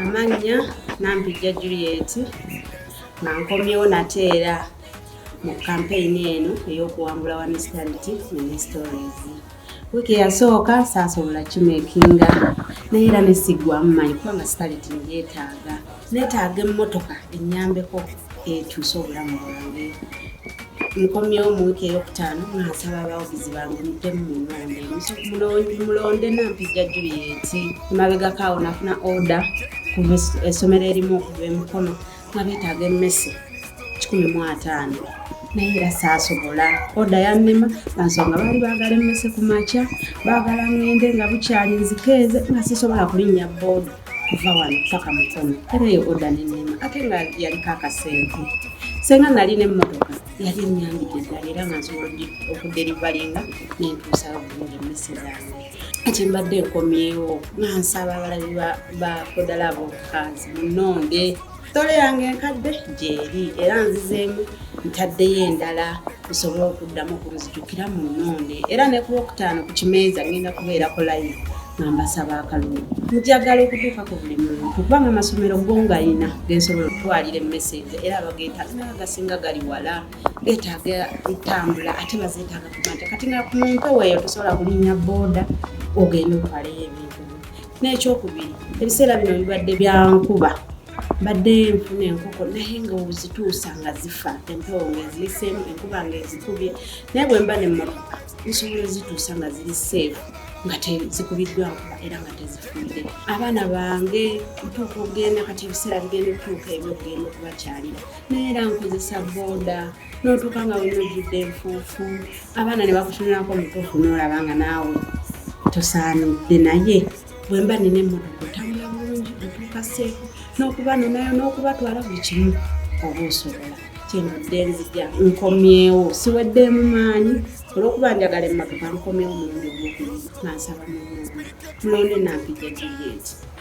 amannya nampijja juliet nga nkomyewo nate era mu kampeyini eno ey'okuwangula wa mistanditi ministories wiiki eyasooka saasobola kimekinga naye era nesiggwamu manyi kubanga sitalitingyetaaga Neetaaga emmotoka ennyambeko ekyuse obulamu bwange. Nkomyewo mu wiiki eyokutaano nga nsaba abawagizi bange muddemu mu nnonde Muso- mulonde Nampijja Juliet. Emabegako awo nafuna oda kuva es- essomero erimu okuva emikono nga beetaaga emmese kikumi mu ataano naye era saasobola oda yannema nga nsonga baali baagala emmese ku makya baagala ng'ende nga bukyali nzikeeze nga sisobola kulinnya booda kuva wano paka mukono era eyo oda nenema ate nga yaliko akasente senga nali nemotoka yali enyambidde ddala era nga nsobola okuderivalinga nentuusa bulungi emmese zange kati mbadde nkomyewo nga nsaba abalabi ba kodala abokukaazi munonde sitole yange enkadde gyeri era nzizeemu ntaddeyo endala nsobole okuddamu okunzijukira mu nnoone era ne ku lwokutaano ku kimeeza ngenda kubeerako layi nga mbasaba akalulu njagala okutuuka ku buli muntu kubanga amasomero go nga yina gensobola okutwalira emmeseeza era abageetaaga naga gasinga gali wala geetaaga entambula ate bazeetaaga kuba nti kati nga ku muntu weeyo tosobola kulinya booda ogenda okubaleyo ebintu n'ekyokubiri ebiseera bino bibadde bya nkuba mbadde nfuna enkoko naye nga ozituusa nga zifa empewo ngaeziyiseemu enkuba ngaezikubye naye bwe mba nemmotoka nsobola ozituusa nga ziri seefu nga tezikubiddwa nkuba era nga tezifudde abaana bange ntuuka okugenda kati ebiseera bigenda okutuuka ebyokugenda okubakyalira naye era nkozesa booda n'otuuka nga wena ojjudde enfuufu abaana ne bakutunulako omutuufu n'olaba nga naawe tosaanidde naye bwe mba nina emmotoka otambula bulungi otuuka seefu n'okuba nonayo n'okubatwala buli kimu oba osobola kyenvudde nzija nkomyewo siweddeemu maanyi olwokuba njagala emmotoka nkomyewo mulundi ogwokubiri nansaba mulonde nampija juliet